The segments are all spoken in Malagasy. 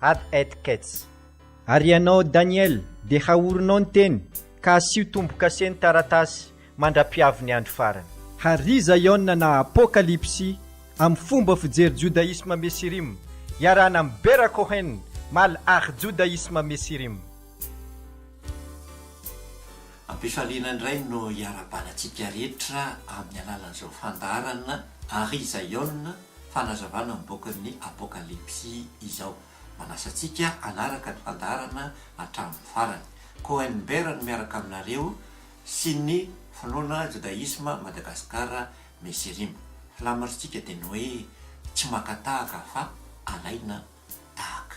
ad et kets. Ary ianao Daniel, dia haorinao ny teny, ka asio tombo-kase ny taratasy, mandra-piavy ny andro farany. Hary Zaiona na Apokalypsy amin'ny fomba fijery Judaisme Mesirim, iarahana amin'i Bera Cohen, mal ary Judaisme Mesirim. Am-pifaliana indray no iarahabanatsika rehetra amin'ny alalan'izao fandaharana Hary Zaiona, fanazavana mivoaka ny Apokalypsy izao. Manasa antsika hanaraka ny fandaharana hatramin'ny farany. Cohen Bear no miaraka aminareo sy ny finoana Jodaisma Madagascar Mesirim. Filamaritsika dia ny hoe tsy maka tahaka fa alaina tahaka.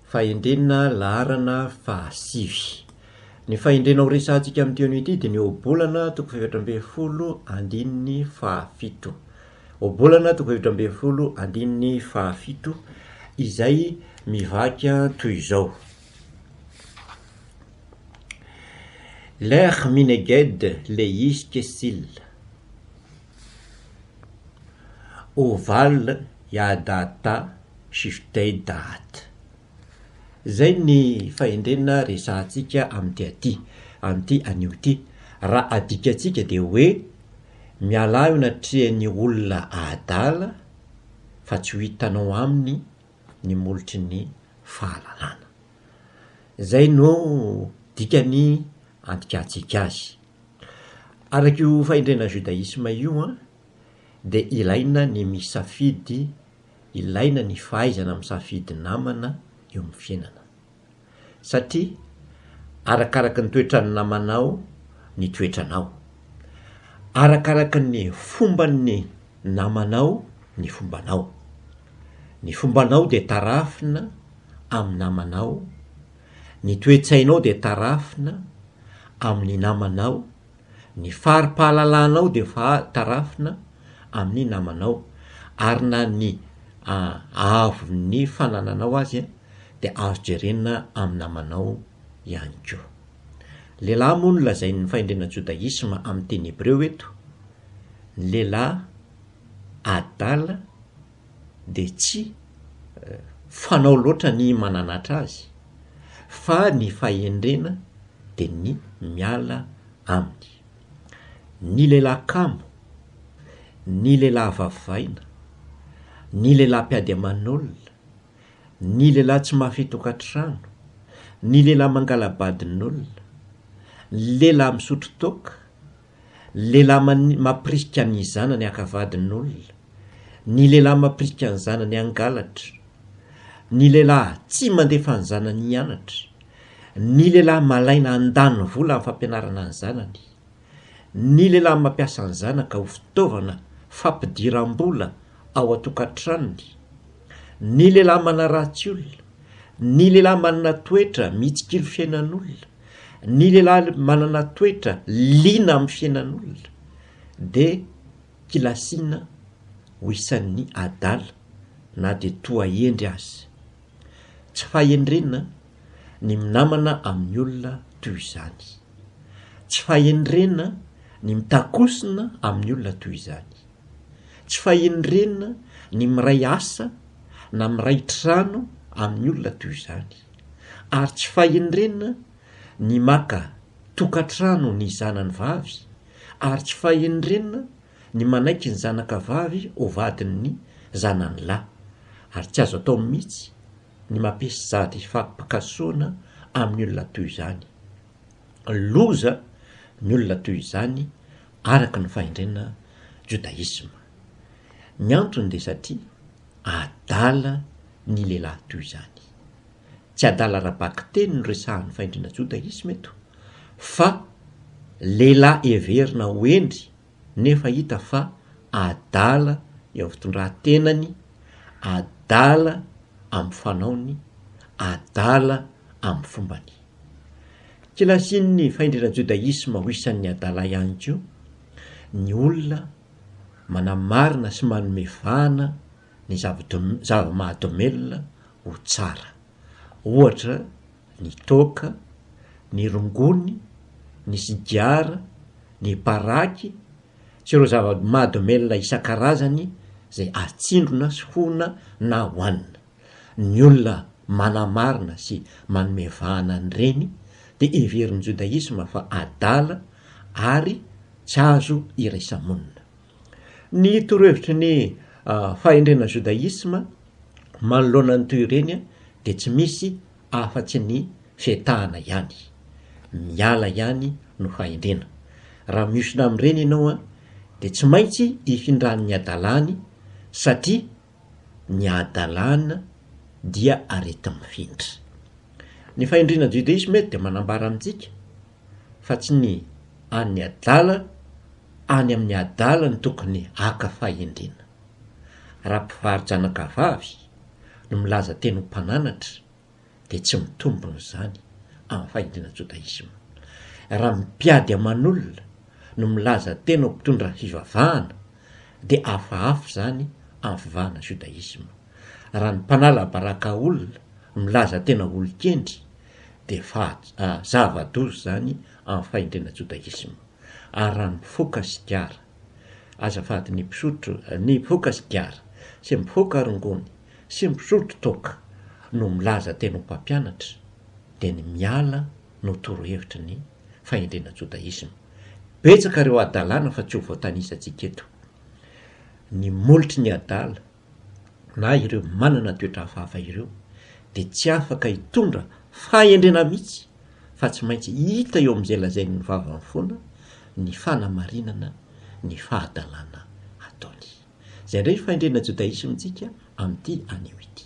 Fahendrena laharana fahasivy. Ny fahendrena ho resahantsika amin'ity anio ity dia ny Ohabolana toko fahefatra ambin'ny folo andininy fahafito. Ohabolana toko fahefatra ambin'ny folo andininy fahafito izay mivaky toy izao. Lech mineged le yiskesil. Oval yadata Shift Day Date Izay ny fahendrena resahantsika amin'ity aty, amin'ity anio ity. Raha adikantsika dia hoe, mialà eo anatrehan'ny olona adala fa tsy ho hitanao aminy ny molotry ny fahalalana. Izay no dikan'ny andikantsika azy. Araka io fahendrena judaisme io dia ilaina ny misafidy Ilaina ny fahaizana misafidy namana eo amin'ny fiainana. Satria arakaraka ny toetran'ny namanao ny toetranao. Arakaraka ny fomban'ny namanao ny fombanao. Ny fombanao dia tarafina amin'ny namanao, ny toe-tsainao dia tarafina amin'ny namanao, Ny fari-pahalalanao dia efa tarafina amin'ny namanao, ary na ny haavon'ny fanananao aza dia azo jerena amin'ny namanao ihany koa. Lehilahy moa no lazain'ny fahendrena jodaisma amin'ny teny hebreo eto, ny lehilahy adala, dia tsy fanao loatra ny mananatra azy fa ny fahendrena dia ny miala aminy. Ny lehilahy kamo, ny lehilahy vavavaina, ny lehilahy mpiady aman'olona, ny lehilahy tsy mahafehy tokantrano, ny lehilahy mangala-badin'olona, ny lehilahy misotro toaka, Lehilahy mani mapirika ny zanany haka vadin'olona, ny lehilahy mapirika ny zanany hangalatra, ny lehilahy tsy mandefa ny zanany hianatra, ny lehilahy malaina handany vola amin'ny fampianarana ny zanany, ny lehilahy mampiasa ny zanaka ho fitaovana fampidiram-bola ao an-tokantranony, ny lehilahy manaratsy olona, ny lehilahy manana toetra mitsikilo fiainan'olona, ny lehilahy manana toetra liana amin'ny fiainan'olona dia kilasiana ho isan'ny adala na dia toa hendry aza. Tsy fahendrena ny minamana amin'ny olona toy izany. Tsy fahendrena ny mitakosona amin'ny olona toy izany. Tsy fahendrena ny miray asa na miray trano amin'ny olona toy izany. ary tsy fahendrena ny maka tokantrano ny zanany vavy ary tsy fahendrena ny manaiky ny zanaka vavy ho vadin'ny zanany lahy ary tsy azo atao mihitsy ny mampisy sady fampikasoana amin'ny olona toy izany. Loza ny olona toy izany araka ny fahendrena Jodaisma. Ny antony dia satria adala ny lehilahy toy izany. Tsy adala ara-bakiteny no resahan'ny fahendrena jodaisma eto fa lehilahy heverina ho hendry nefa hita fa adala eo amin'ny fitondran-tenany, adala amin'ny fanaony, adala amin'ny fombany. Kilasin'ny fahendrena jodaisma ho isan'ny adala ihany koa ny olona manamarina sy manome vahana ny zava-mahadomelina ho tsara, ohatra ny toaka, ny rongony, ny sigara, ny paraky sy ireo zava-mahadomelina isan-karazany izay atsindrona sy hoana na hoanina. Ny olona manamarina sy manome vahana an'ireny dia heverin'ny jodaisma fa adala ary tsy azo iraisa-monina. Ny torohevitry ny fahendrena jodaisma manoloana ny toy ireny dia tsy misy afa-tsy ny fietahana ihany. Miala ihany no fahendrena. Raha mihosona amin'ireny ianao dia tsy maintsy hifindran'ny hadalany satria ny hadalana dia areti-mifindra. Ny fahendrena jodaisma eto dia manambara amintsika fa tsy ny an'ny adala any amin'ny adala no tokony haka fahendrena. Raha mpivaro-janakavavy no milaza teny ho mpananatra dia tsy mitombona izany amin'ny fahendrena jodaisma. Raha mpiady aman'olona no milaza tena ho mpitondra fivavahana dia hafahafa izany amin'ny fivavahana jodaisma. Raha ny mpanala baraka olona milaza tena olon-kendry dia faha zava-doza izany amin'ny fahendrena jodaisma. Ary raha mifoka sigara, azafady, ny mpisotro, ny mpifoka sigara sy mpifoka rongony sy mpisotro toaka no milaza teny ho mpampianatra, dia ny miala no torohevitry ny fahendrena jodaisma. Betsaka ireo hadalana fa tsy ho voatanisantsika eto. Ny molotry ny adala na ireo manana toetra hafahafa ireo dia tsy afaka hitondra fahendrena mihitsy fa tsy maintsy hita eo amin'izay lazain'ny vavany foana ny fanamarinana ny fahadalana ataony. Izay indray io fahendrena jodaisme-ntsika amin'ity anio ity.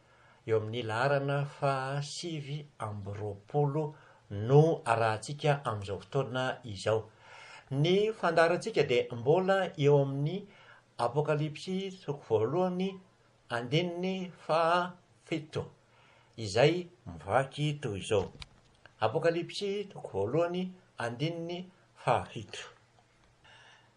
Eo amin'ny laharana faha sivy amby roapolo no arahantsika amin'izao fotoana izao. Ny fandaharantsika dia mbola eo amin'ny Apokalypsy toko voalohany andininy faha fito izay mivaky toy izao. Apokalypsy toko voalohany andininy faha fito.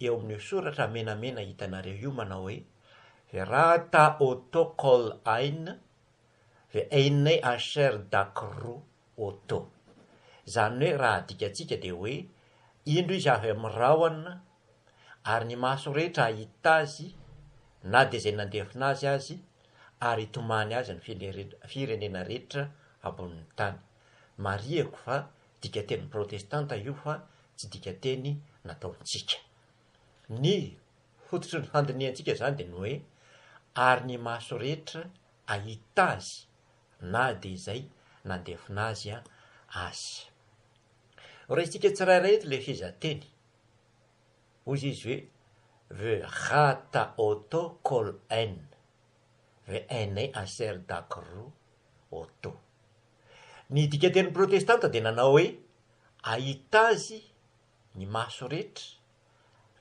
eo amin'io soratra menamena hitanareo io manao hoe, Verata o to kol ain, ve einne asher dak ru o to. Izany hoe raha adikantsika dia hoe, indro izy avy amin'ny rahona, ary ny maso rehetra hahita azy, na dia izay nandefona azy aza, ary hitomany azy ny firenena rehetra ambonin'ny tany. Marihiko fa Dikateny protestanta io fa tsy dikateny nataontsika. Ny fototry ny fandinihantsika izany dia ny hoe, ary ny maso rehetra ahita azy na dia izay nandefona azy aza. Horaisintsika tsirairay eto ilay fehezanteny. Hoy izy hoe, ve ha ta o to kol en, ve en e a ser da kru o to. Ny dikan-teny protestanta dia nanao hoe, Ahita Azy ny maso rehetra,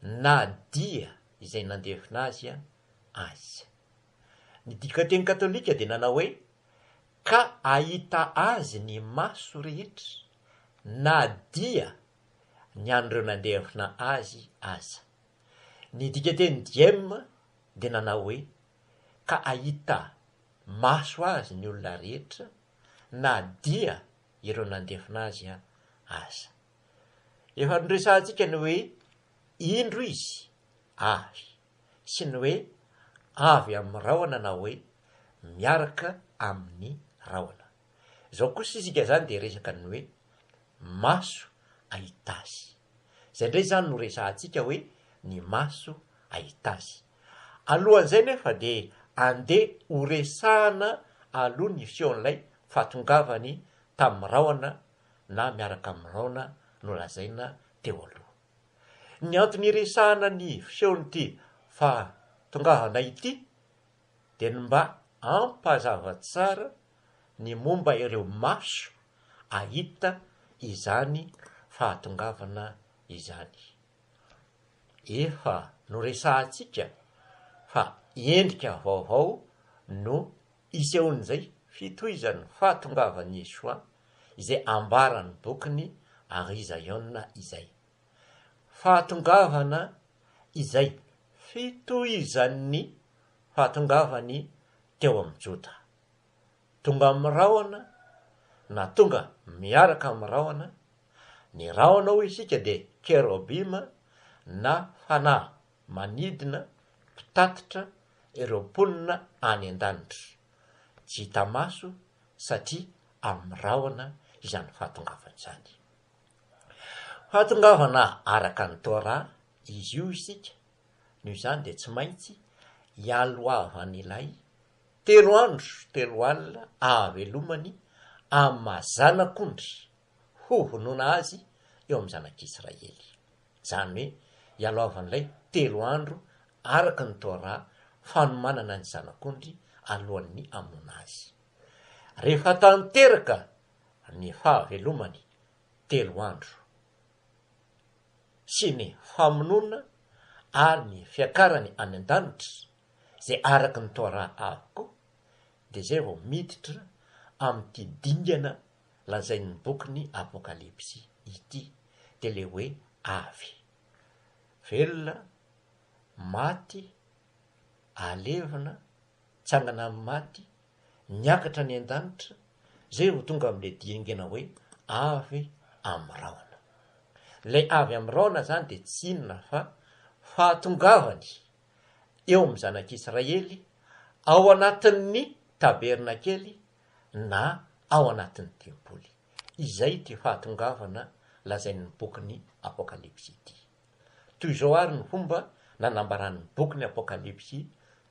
na dia izay nandevina Azy aza. Ny dikan-teny katolika dia nanao hoe, Ka ahita Azy ny maso rehetra, na dia ny an'ireo nandevina Azy aza. Ny dikan-teny Diem dia nanao hoe, Ka ahita maso azy ny olona rehetra na dia ireo nandefona azy aza. Efa noresahantsika ny hoe indro izy avy sy ny hoe avy amin'ny rahona na hoe miaraka amin'ny rahona. Izao kosa isika izany dia resaka ny hoe maso ahita azy. Izay indray izany no resahantsika hoe ny maso ahita azy. Alohan'izay nefa dia andeha ho resahana aloha ny fihon'ilay fahatongavany tamin'ny rahona na miaraka amin'ny rahona nolazaina teo aloha. Ny antony iresahana ny fihon'ity fahatongavana ity dia ny mba hampazava tsara ny momba ireo maso hahita izany fahatongavana izany. Efa noresahantsika fa endrika vaovao no isehoan'izay fitohizan'ny fahatongavan'i Yeshua izay ambaran'ny bokin'i Arizaiona izay. Fahatongavana izay fitohizan'ny fahatongavan'ny teo amin'ny Joda. Tonga amin'ny rahona na tonga miaraka amin'ny rahona, ny rahona hoy isika dia kerobima na fanahy manidina mpitatitra ireo mponina any an-danitra. Tsy hita maso satria amin'ny rahona izany fahatongavana izany. Fahatongavana araka ny Torah izy io isika, noho izany dia tsy maintsy ialohavan'ilay Telo andro telo alina ahavelomany amin'ny maha zanak'ondry hovonoina azy eo amin'ny zanak'Israely. Izany hoe ialaovan'ilay telo andro araka ny Torah fanomanana ny zanak'ondry alohan'ny hamonoana azy. Rehefa tanteraka ny fahavelomany telo andro sy ny famonoana ary ny fiakarany any an-danitra, Izay araka ny Torah avokoa dia izay vao miditra amin'ity dingana lazain'ny bokin'ny Apokalypsy ity dia ilay hoe avy, velona, maty, alevina, mitsangana amin'ny maty, miakatra any an-danitra, izay vao tonga amin'ilay diengana hoe avy amin'ny rahona. Ilay avy amin'ny rahona izany dia tsy inona fa fahatongavany eo amin'ny zanak'Israely ao anatin'ny tabernakely na ao anatin'ny tempoly. Izay ity fahatongavana lazain'ny bokin'ny Apokalypsy ity. Toy izao àry ny fomba nanambaran'ny bokin'ny Apokalypsy,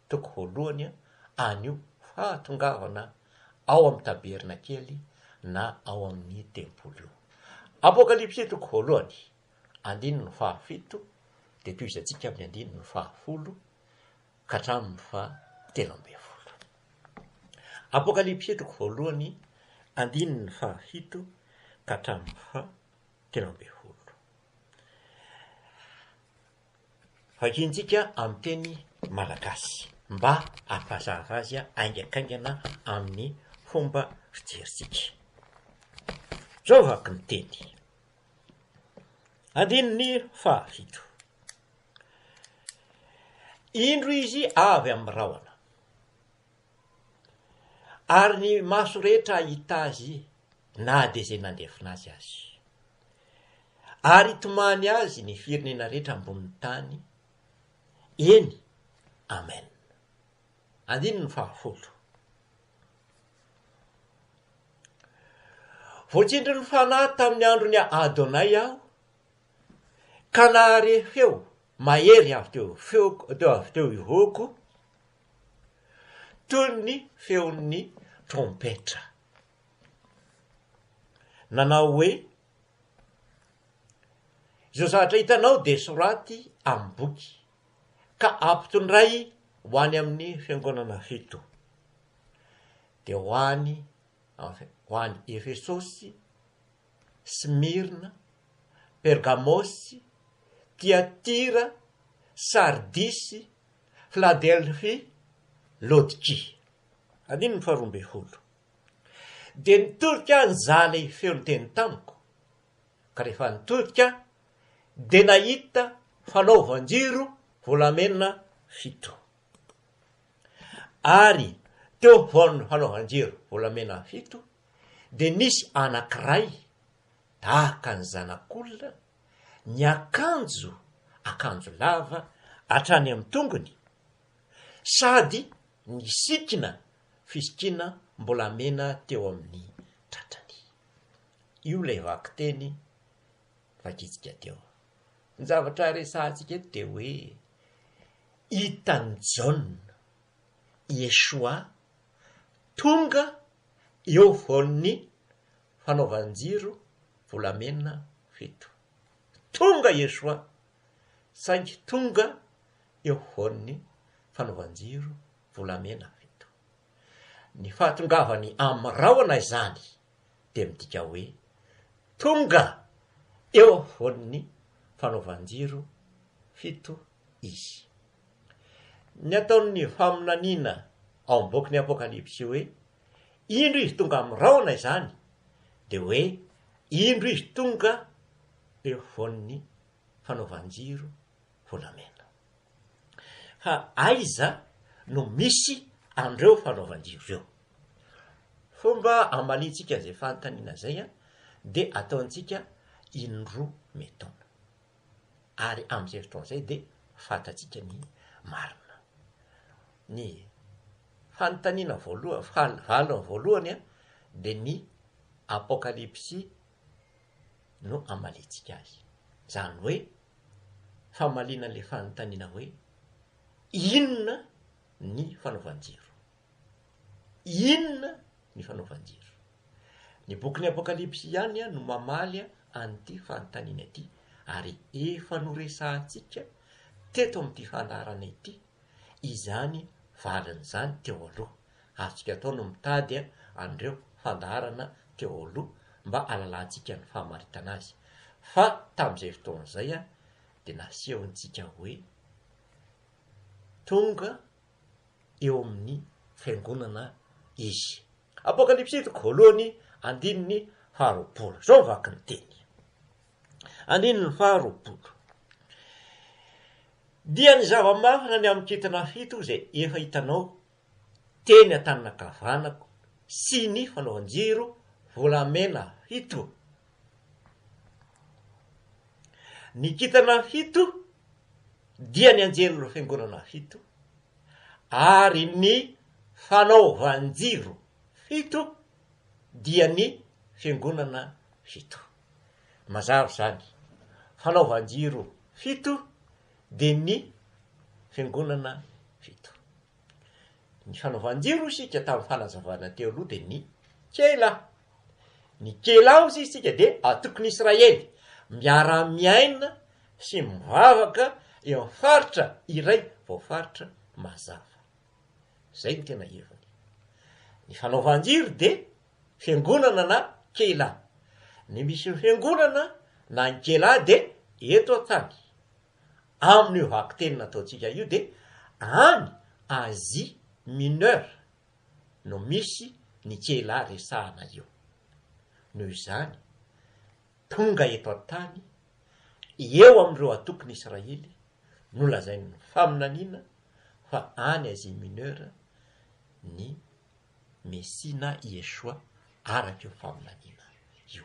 toko voalohany, an'io fahatongavana ao amin'ny tabernakely na ao amin'ny tempoly io. Apokalypsy, toko voalohany. andininy fahafito dia tohizantsika amin'ny andininy fahafolo ka hatramin'ny fahatelo ambin'ny folo. Apokalypsy toko voalohany andininy fahafito ka hatramin'ny fahatelo ambin'ny folo. Vakintsika amin'ny teny malagasy mba hampazava azy aingakaingana amin'ny fomba fijerintsika. Zao vaky ny teny. Andininy fahafito. Indro izy avy amin'ny rahona, ary ny maso rehetra hahita azy na dia izay nandefona azy aza. Ary hitomany azy ny firenena rehetra ambonin'ny tany. Eny, Amen. Andininy fahafolo. Voatsindry ny Fanahy tamin'ny andron'i Adonay aho, ka nahare feo mahery avy teo feoko, teo avy teo irôko, toy ny feon'ny trompetra. Nanao hoe, Izao zavatra hitanao dia soraty amin'ny boky. ka ampitondray ho any amin'ny fiangonana fito, dia ho any ho any Efesosy, Smyrna, Pergamosy, Tiatira, Sardisy, Filadelfia, Laodikia. Andininy faharoa ambin'ny folo. Dia nitodika aho nizaha ilay feon-teny tamiko, ka rehefa nitodika aho dia nahita fanaovan-jiro volamena fito. Ary teo afovoan'ny fanaovan-jiro volamena fito dia nisy anankiray tahaka ny zanak'olona, niakanjo akanjo lava hatrany amin'ny tongony, sady nisikina fisikiana mbolamena teo amin'ny tratrany. Io ilay vakiteny Vakitsika teo. Ny zavatra resahantsika eto dia hoe hitan'i Jaona, Yeshua, tonga eo afovoan'ny fanaovan-jiro volamena fito. Tonga Yeshua, saingy tonga eo afovoan'ny fanaovan-jiro volamena fito. Ny fahatongavany amin'ny rahona izany dia midika hoe tonga eo afovoan'ny fanaovan-jiro fito izy. Ny ataon'ny faminaniana ao amin'ny bokin'ny Apokalypsy hoe indro izy tonga amin'ny rahona izany dia hoe indro izy tonga eo afovoan'ny fanaovan-jiro volamena. Fa aiza no misy an'ireo fanaovan-jiro ireo? Fomba amaliantsika izay fanontaniana izay dia ataontsika in-droa mitaona. Ary amin'izay fotoana izay dia fantatsika ny marina. Ny fanontaniana voalohany, valiny voalohany dia ny Apokalypsy no hamaliantsika azy. Izany hoe, famaliana ilay fanontaniana hoe, Inona ny fanaovan-jiro? Inona ny fanaovan-jiro? Ny bokin'ny Apokalypsy ihany no mamaly an'ity fanontaniana ity, ary efa noresahantsika teto amin'ity fandaharana ity, izany valin'izany teo aloha. Azontsika atao ny mitady an'ireo fandaharana teo aloha mba halalantsika ny famaritana azy. Fa tamin'izay fotoana izay dia nasehontsika hoe tonga eo amin'ny fiangonana izy. Apokalypsy toko voalohany andininy faharoapolo. Izao ny vakin'ny teny. Andininy faha roapolo. Dia ny zava-mafana ny amin'ny kintana fito izay efa hitanao teny an-tanana ankavanako sy ny fanaovan-jiro volamena fito. Ny kintana fito dia ny anjelin'ny fiangonana fito, ary ny fanaovan-jiro fito dia ny fiangonana fito. Mazava izany. Fanaovan-jiro fito dia ny Fiangonana fito. Ny fanaovan-jiro hoy isika tamin'ny fanazavana teo aloha dia ny Kela. Ny Kela hoy isika dia antokon'Israely miara-miaina sy mivavaka eo amin'ny faritra iray voafaritra mazava. Izay no tena heviny. Ny fanaovan-jiro dia fiangonana na keilah. Ny misy fiangonana na ny keilah dia eto an-tany. Amin'io vakiteny nataontsika io dia any Asie Mineure no misy ny keilah resahana io. Noho izany, tonga eto an-tany, eo amin'ireo antokon'Israely, nolazain'ny faminaniana fa any Asie Mineure ny Mesia na Yeshua araka io faminaniana io.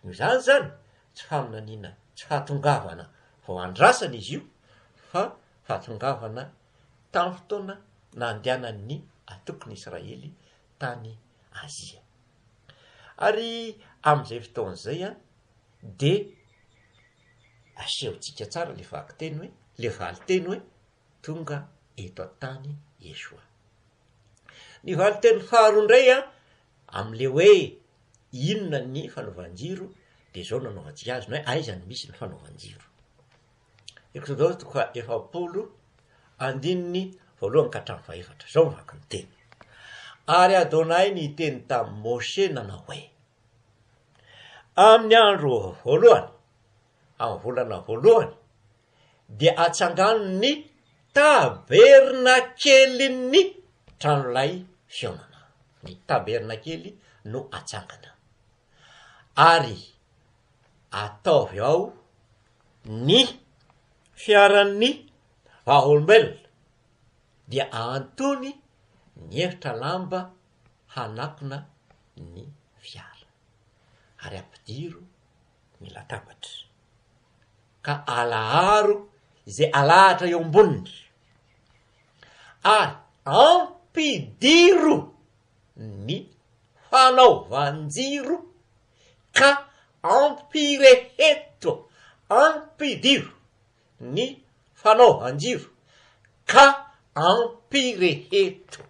Noho izany izany, tsy faminaniana tsy fahatongavana vao andrasana izy io fa fahatongavana tamin'ny fotoana nandehanan'ny antokon'i Israely tany Azia. Ary amin'izay fotoana izay dia asehontsika tsara ilay vakiteny hoe, ilay valinteny hoe tonga eto an-tany Yeshua. Ny valinteny faharoa indray an, amin'ilay hoe inona ny fanaovan-jiro dia izao no anaovantsika azy, na hoe aiza no misy ny fanaovan-jiro. Eksodaosy toko faha efapolo andininy voalohany ka hatramin'ny fahefatra, izao ny vaky ny teny. Ary Adonai niteny tamin'i Moshe nanao hoe, Amin'ny andro voalohany, amin'ny volana voalohany, dia atsangano ny tabernakelin'ny tranolay fihaonana. Ny tabernakely no atsangana. Ary ataovy ao ny fiaran'ny vavolombelona, dia ahantony ny efitra lamba hanakona ny fiara, ary ampidiro ny latabatra. ka alaharo izay alahatra eo amboniny, ary ampidiro ny fanaovan-jiro ka ampireheto, ampidiro ny fanaovan-jiro ka ampireheto.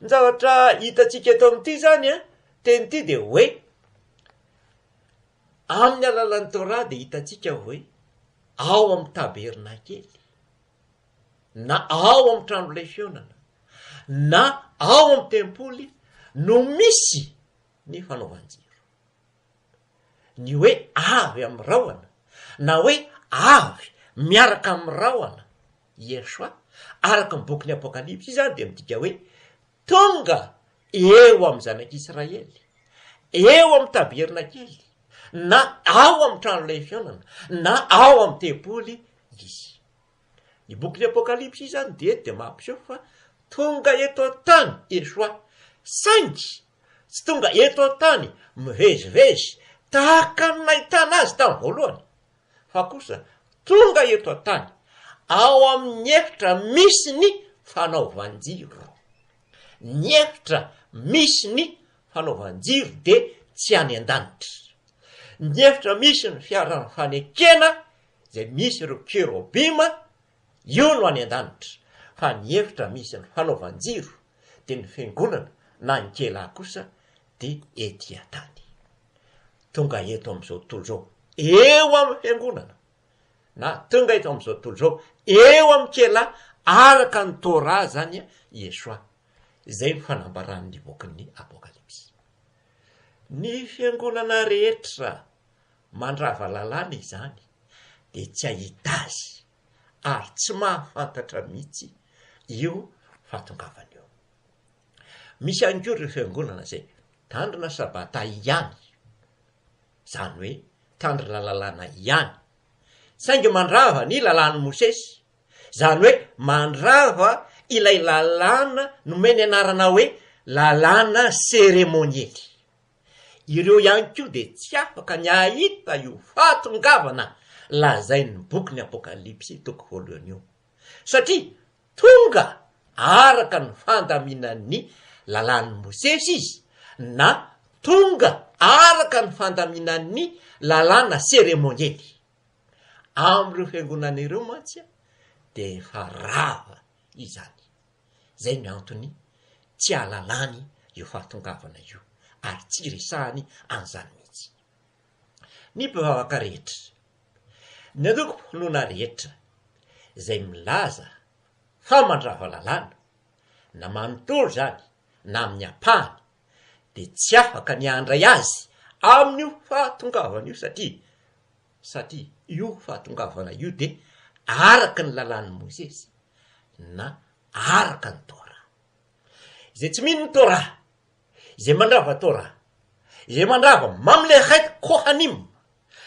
Ny zavatra hitantsika eto amin'ity izany teny ity dia hoe. Amin'ny alalan'ny Torah dia hitantsika hoe ao amin'ny tabernakely, na ao amin'ny trano lefiônana, na ao amin'ny tempoly no misy ny fanaovan-jiro. Ny hoe avy amin'ny rahona na hoe avy miaraka amin'ny rahona, Yeshua, araka ny bokin'ny Apokalypsy izany dia midika hoe Tonga eo amin'ny zanak'Israely, eo amin'ny tabernakely, na ao amin'ny trano lehifionana, na ao amin'ny tempoly Izy. Ny bokin'ny Apokalypsy izany dieny dia mampiseho fa tonga eto an-tany Yeshua, saingy tsy tonga eto an-tany mivezivezy tahaka ny nahitana Azy tamin'ny voalohany. fa kosa tonga eto an-tany ao amin'ny efitra misy ny fanaovan-jiro. Ny efitra misy ny fanaovan-jiro dia tsy any an-danitra. Ny efitra misy ny fiaran'ny fanekena izay misy ireo kerobima, io no any an-danitra, fa ny efitra misy ny fanaovan-jiro dia ny fiangonana na ny kela kosa dia ety an-tany. tonga eto amin'izao tontolo izao eo amin'ny fiangonana na tonga eto amin'izao tontolo izao eo amin'ny kela araka ny Torah izany Yeshua. Izay ny fanambaran'ny bokin'ny Apokalypsy. Ny fiangonana rehetra mandrava lalàna izany dia tsy hahita azy ary tsy mahafantatra mihitsy io fahatongavany io. Misy ihany koa ireo fiangonana izay mitandrina Sabata ihany, izany hoe mitandrina lalàna ihany, saingy mandrava ny lalàn'i Mosesy, izany hoe mandrava ilay lalàna nomeny anarana hoe lalàna seremoniely. Ireo ihany koa dia tsy afaka ny hahita io fahatongavana lazain'ny bokin'ny Apokalypsy toko voalohany io. satria tonga araka ny fandaminan'ny Lalàn'i Mosesy izy na tonga araka ny fandaminan'ny lalàna seremoniely. Amin'ireo fiangonana ireo mantsy dia efa rava izany. Izay ny antony tsy ahalalany io fahatongavana io ary tsy iresahany an'izany mihitsy. Ny mpivavaka rehetra Ny antokom-pinoana rehetra izay milaza fa mandrava lalàna, na manontolo izany na amin'ny ampahany, dia tsy afaka ny handray azy amin'io fahatongavana io satria satria io fahatongavana io dia araka ny lalàn'i Mosesy na araka ny Torah. Izay tsy mino ny Torah. Izay mandrava Torah. Izay mandrava mamle het Kohanim.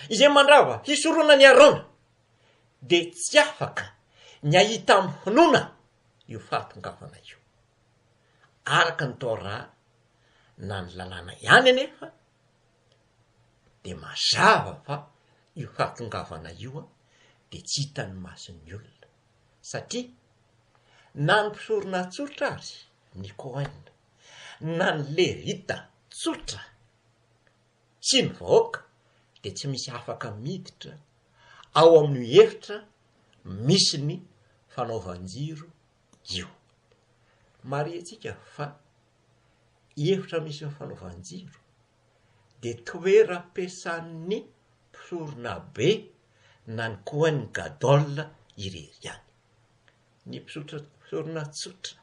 Izay mandrava hisoronan' i Arona. Dia tsy afaka ny hahita amin'ny finoana io fahatongavana io. Araka ny Torah na ny Lalàna ihany anefa dia mazava fa io fahatongavana io dia tsy hitan'ny mason'ny olona. Satria na ny mpisorona tsotra aza, ny Kohen, na ny lerita tsotra sy ny vahoaka dia tsy misy afaka miditra ao amin'io efitra misy ny fanaovan-jiro io. Marihintsika fa i efitra misy ny fanaovan-jiro dia toeram-piasan'ny mpisoronabe na ny coin gadol irery ihany. Ny mpisotra sorona tsotra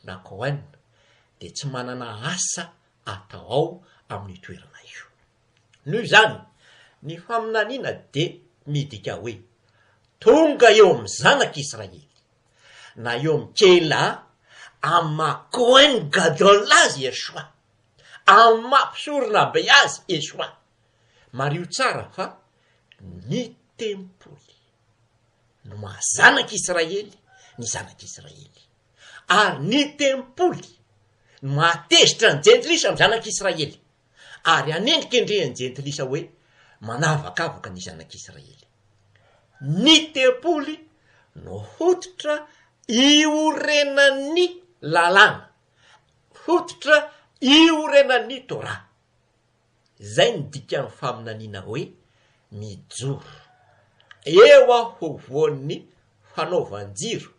na Cohen dia tsy manana asa atao ao amin'io toerana io. Noho izany, ny faminaniana dia midika hoe tonga eo amin'ny zanak'i Israely, na eo amin'ny Keilah, amin'ny maha Cohen Gadol azy Yeshua, amin'ny maha mpisorona be azy Yeshua. Mariho tsara fa ny tempoly. no maha zanak'i Israely ny zanak'i Israely, ary ny tempoly no maha tezitra ny jentilisa ny zanak'i Israely, ary hanendrikendreha ny jentilisa hoe manavakavaka ny zanak'i Israely. Ny tempoly no hotitra iorenan'ny lalàna, hotitra iorenan'ny Torah. Izay no dikan'ny faminaniana hoe mijoro. Eo afovoan'ny fanaovan-jiro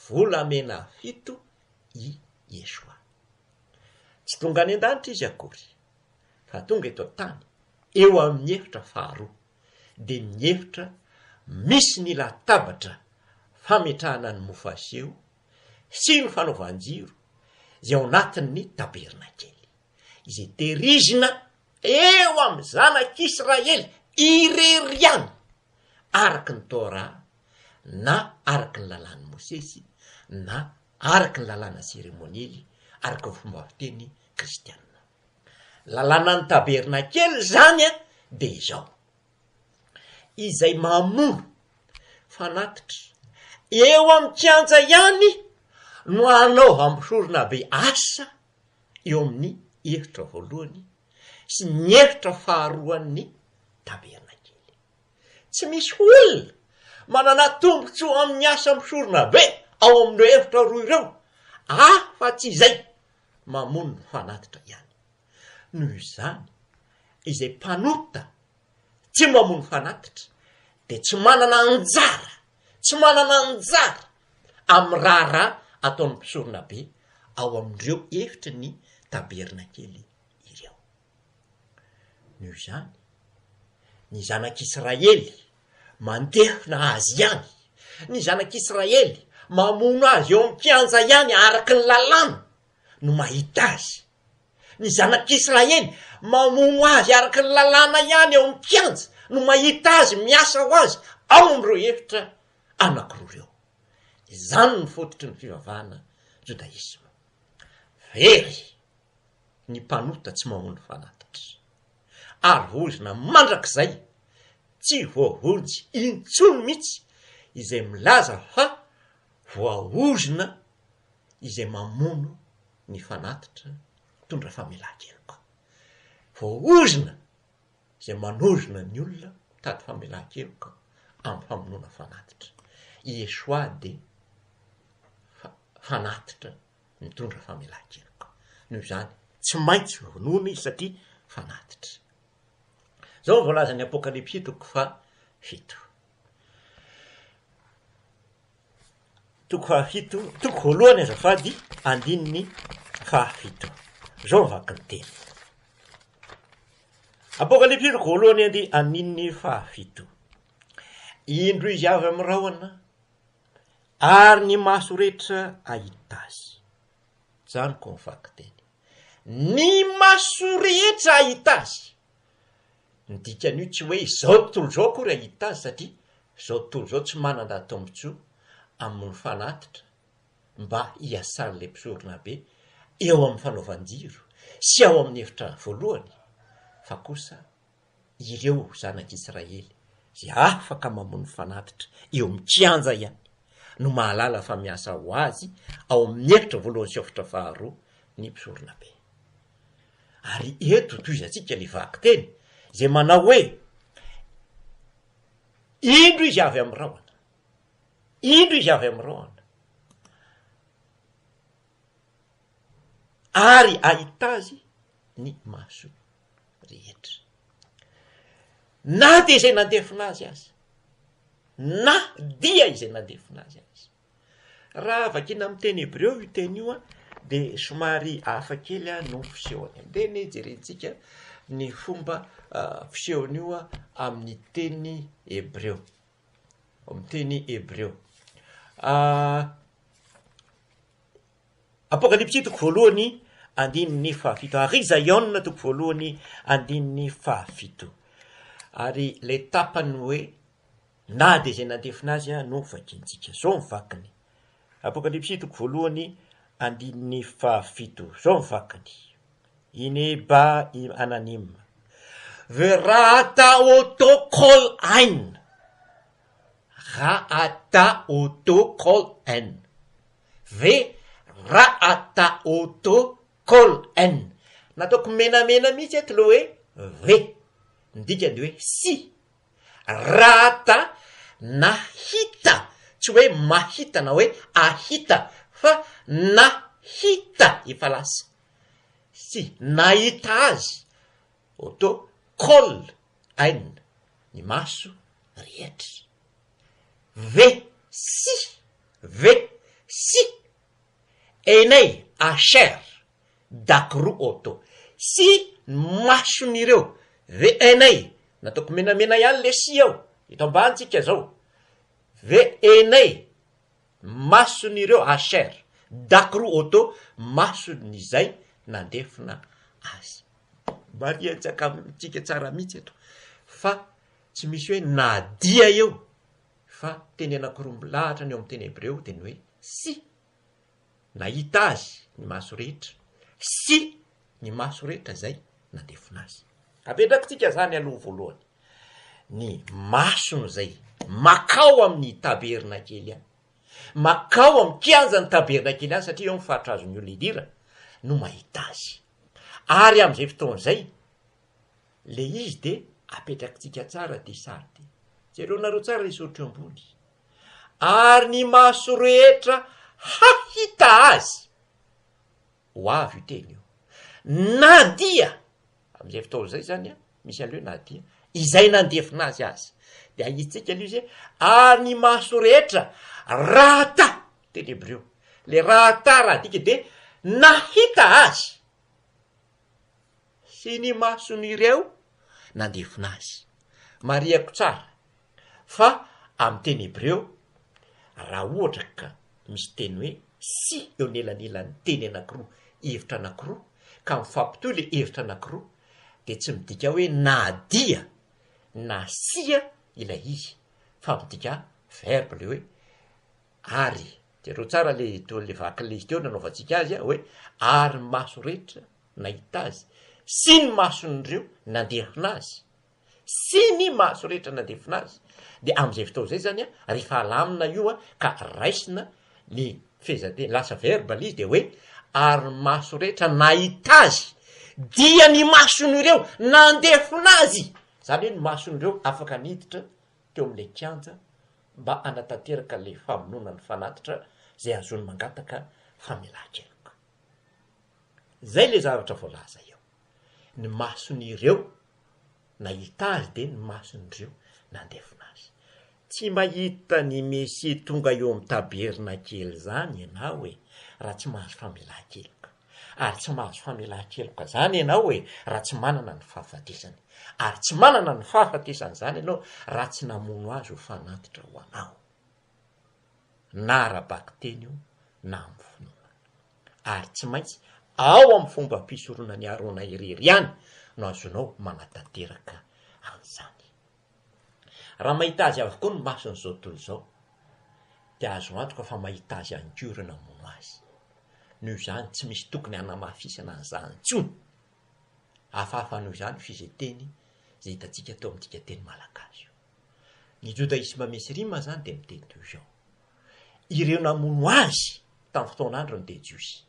volamena fito i Yeshua. Tsy tonga any an-danitra izy akory, fa tonga eto an-tany, eo amin'ny efitra faharoa, dia ny efitra misy ny latabatra fametrahana ny mofo aseho sy ny fanaovan-jiro izay ao anatin'ny tabernakely. izay tehirizina eo amin'ny zanak'Israely irery ihany, araka ny Torah na araka ny lalàn'i Mosesy na araka ny lalàna seremoniely araka ny fomba fiteny kristiana. Lalànan'ny tabernakely izany dia izao, izay mamoro fanatitra eo amin'ny kianja ihany no hanaovam-pisoronabe asa eo amin'ny hevitra voalohany sy ny hevitra faharoan'ny tabernakely. Tsy misy olona manana tombontsoa amin'ny asa misorona be ao amin'ireo hevitra roa ireo afa-tsy izay mamono ny fanatitra ihany. Noho izany, izay mpanota Tsy mamono fanatitra dia tsy manana anjara, tsy manana anjara amin'ny raharaha ataon'ny mpisoronabe ao amin'ireo efitry ny tabernakely ireo. Noho izany, ny zanak'Israely mandefona azy ihany, ny zanak'Israely mamono azy eo amin'ny kianja ihany araka ny lalàna no mahita azy. Ny zanak'Israely mamono azy araka ny lalàna ihany ao amin'ny kianja no mahita azy miasa ho azy ao amin'ireo efitra anankiroa ireo. Izany no fototry ny fivavahana jodaisma. Very ny mpanota tsy mamono fanatitra, ary vozona mandrakizay tsy voavonjy intsony mihitsy izay milaza fa voaozona izay mamono ny fanatitra mitondra famelan-keloka. Voaozona izay manozona ny olona mitady famelan-keloka amin'ny famonoana fanatitra. I Yeshua dia fa- fanatitra mitondra famelan-keloka. Noho izany, tsy maintsy vonoina izy satria fanatitra. Izao no voalazan'ny Apokalypsy toko fahafito. Toko fahafito, toko voalohany azafady, andininy fahafito. Izao ny vakin'ny teny. Apokalypsy toko voalohany andy andininy fahafito. Indro izy avy amin'ny rahona ary ny maso rehetra ahita azy. Izany ko ny vakin-teny. Ny maso rehetra ahita azy. Ny dikan'io tsy hoe izao tontolo izao akory hahita azy satria izao tontolo izao tsy manan-dà tombontsoa amin'ny fanatitra mba hiasan'ilay mpisoronabe eo amin'ny fanaovan-jiro sy ao amin'ny efitra voalohany fa kosa ireo zanak'Israely izay afaka mamono fanatitra eo amin'ny kianja ihany no mahalala fa miasa ho azy ao amin'ny efitra voalohany sy efitra faharoa ny mpisoronabe. Ary eto tohizantsika ny vakiteny izay manao hoe, Indro izy avy amin'ny rahona, indro izy avy amin'ny rahona, ary ahita azy ny maso rehetra. Na dia izay nandefona azy aza, na dia izay nandefona azy aza. Raha vakiana amin'ny teny hebreo io teny io dia somary hafa kely no fisehony. Andeha anie hijerentsika ny fomba fisehon'io amin'ny teny hebreo. Amin'ny teny hebreo. Apokalypsy toko voalohany andininy fahafito. Ary Zaiona toko voalohany andininy fahafito. Ary ilay tapany hoe Na dia izay nandefona azy no vakintsika. Izao ny vakiny, Apokalypsy toko voalohany andininy fahafito. Izao ny vakiny, Ine ba im ananim, ve ra ata o to kol ain, ra ata o to kol en, ve ra ata o to kol en. Nataoko menamena mihitsy eto ilay hoe ve. Ny dikany dia hoe sy. Rata nahita, tsy hoe mahita na hoe ahita fa nahita efa lasa. Tsy nahita azy oto kol ain ny maso rehetra. Ve sy ve sy einay acher Dakoro Auto sy ny mason'ireo VNA nataoko menamena ihany lesy ao eto ambany tsika zao VNA mason'ireo HR Dakoro Auto mason'izay nandefona azy. Marihantsika amintsika tsara mihitsy eto fa tsy misy hoe na dia eo fa teny anakiroa milahatra ny ao amin'ny teny hebreo dia ny hoe sy. nahita azy ny maso rehetra sy ny maso rehetra izay nandefona azy. Apetrakitsika izany aloha voalohany, ny masony izay makao amin'ny tabernakely any, makao amin'ny kianjan'ny tabernakely any, satria eo ny faritra azon'ny olona idira, no mahita azy. Ary amin'izay fotoana izay, ilay izy dia apetrakitsika tsara dia sady. Jereonareo tsara ilay soritra eo ambony. ary ny maso rehetra hahita azy. Ho avy io teny io. Na dia, amin'izay fotoana izay izany, misy an'ilay hoe na dia, izay nandefona azy aza. Dia ahitsika ilay izy hoe, ary ny maso rehetra rahata, teny hebreo, ilay rahata raha adika dia nahita azy. sy ny mason'ireo nandefona azy. Marihako tsara fa amin'ny teny hebreo, raha ohatra ka misy teny hoe sy eo anelanelan'ny teny anankiroa, hevitra anankiroa, ka mifampitohy ilay hevitra anankiroa, dia tsy midika hoe na dia na sia ilay izy, fa midika verba ilay hoe. Ary, jereo tsara ilay ilay vaky ilay teo nanaovantsika azy a, hoe ary ny maso rehetra nahita azy, sy ny mason'ireo nandefina azy, sy ny maso rehetra nandefina azy, dia amin'izay fotoana izay izany a, rehefa alamina io a, ka raisina ny fehezanteny, lasa verba ilay izy, dia hoe ary ny maso rehetra nahita azy, dia ny mason'ireo nandefina azy, izany hoe ny mason'ireo afaka niditra teo amin'ilay kianja mba hanatanteraka ilay famonoana ny fanatitra izay azony mangataka famelan-keloka. Izay ilay zavatra voalaza eo. Ny mason'ireo nahita azy dia ny mason'ireo nandefona azy. Tsy mahita ny Mesia tonga eo amin'ny tabernakely izany ianao e, raha tsy mahazo famelan-keloka. ary tsy mahazo famelan-keloka izany ianao e, raha tsy manana ny fahafatesany, ary tsy manana ny fahafatesany izany ianao raha tsy namono azy ho fanatitra ho anao, na ara-bakiteny io na amin'ny finoana. Ary tsy maintsy ao amin'ny fombam-pisoronan'i Arona irery ihany no azonao manatanteraka an'izany. Raha mahita azy avokoa ny mason'izao tontolo izao, dia azo antoka fa mahita azy ihany koa ireo namono azy. Noho izany, tsy misy tokony hanamafisana an'izany intsony. Hafahafa noho izany io fizeteny izay hitantsika teo amintsika teny malagasy io. Ny jodaisma misy rima izany dia miteny toy izao, Ireo namono azy tamin'ny fotoan'androny dia jiosy.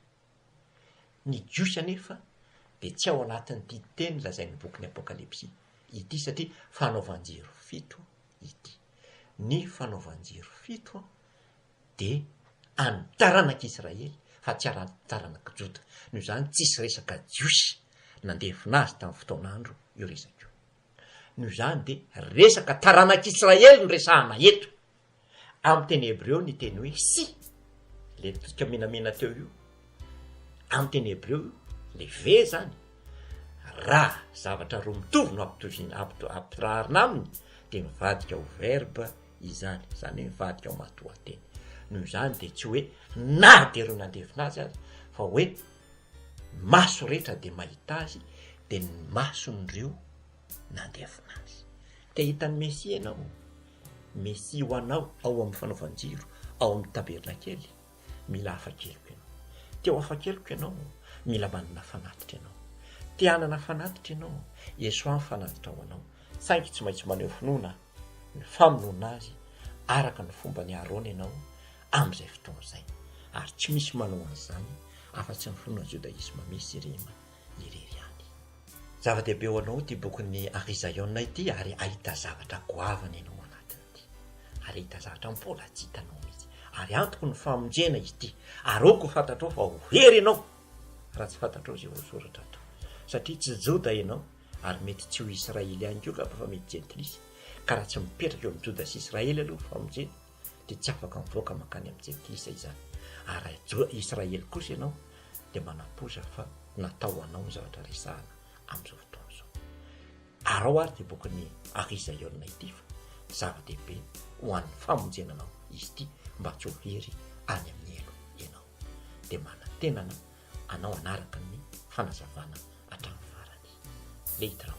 Ny Jiosy anefa dia tsy ao anatin'ity teny lazain'ny bokin'ny Apokalypsy ity satria fanaovan-jiro fito ity. Ny fanaovan-jiro fito dia an'ny taranak'Israely fa tsy an'ny taranak'i Joda. Noho izany tsisy resaka Jiosy nandefona azy tamin'ny fotoan'andro io resaka io. Noho izany dia resaka taranak'Israely no resahana eto. Amin'ny teny hebreo ny teny hoe sy, ilay totsika menamena teo io, amin'ny teny hebreo io, ilay ve izany, raha zavatra roa mitovy no ampitoviana, ampito- ampirarina aminy, dia mivadika ho verba izany, izany hoe mivadika ho matoanteny. Noho izany dia tsy hoe na dia ireo nandefina azy aza, fa hoe ny maso rehetra dia mahita azy, dia ny mason'ireo nandefina azy. Te hita an'i Mesia ianao? Mesia ho anao ao amin'ny fanaovan-jiro ao amin'ny tabernakely, mila afa-keloka ianao. Te ho afa-keloka ianao, mila manana fanatitra ianao. Te hanana fanatitra ianao, Iesoà ny fanatitra ho anao, saingy tsy maintsy maneho finoana ny famonoana Azy araka ny fomban'i Arona ianao amin'izay fotoana izay. Ary tsy misy manao an'izany afa-tsy ny finoana jodaisma misy sy rima. irery ihany. Zava-dehibe ho anao ity bokin'i Ari Zion ity ary ahita zavatra goavana ianao ao anatiny ity. Ary ahita zavatra mbola tsy hitanao mihitsy. Ary antoko ny famonjena izy ity. Aroako ho fantatrao fa ho hery ianao raha tsy fantatrao izay voasoratra ato. Satria tsy Joda ianao ary mety tsy ho Israely ihany koa angamba fa mety Jentilisa. Ka raha tsy mipetraka eo amin'i Joda sy Israely aloha ny famonjena, dia tsy afaka mivoaka mankany amin'i Jentisa izany. Ary raha jo- Israely kosa ianao, dia manampoiza fa natao ho anao ny zavatra resahana amin'izao fotoana izao. Arao ary ity bokin'i Arisa Yolna ity fa zava-dehibe ho an'ny famonjena anao izy ity mba tsy ho very any amin'ny helo ianao. Dia manantenana anao hanaraka ny fanazavana hatramin'ny farany. Leitraut.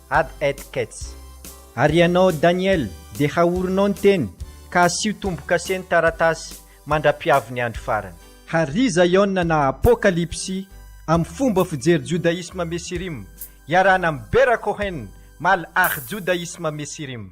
ad et kets. Ary ianao Daniel, dia haorinao ny teny, ka asio tombo-kase ny taratasy, mandra-piavy ny andro farany. Hary Zaiona na Apokalypsy amin'ny fomba fijery Judaisme Mesirim, iarahana amin'i Bera Cohen, Mal Ach Judaisme Mesirim.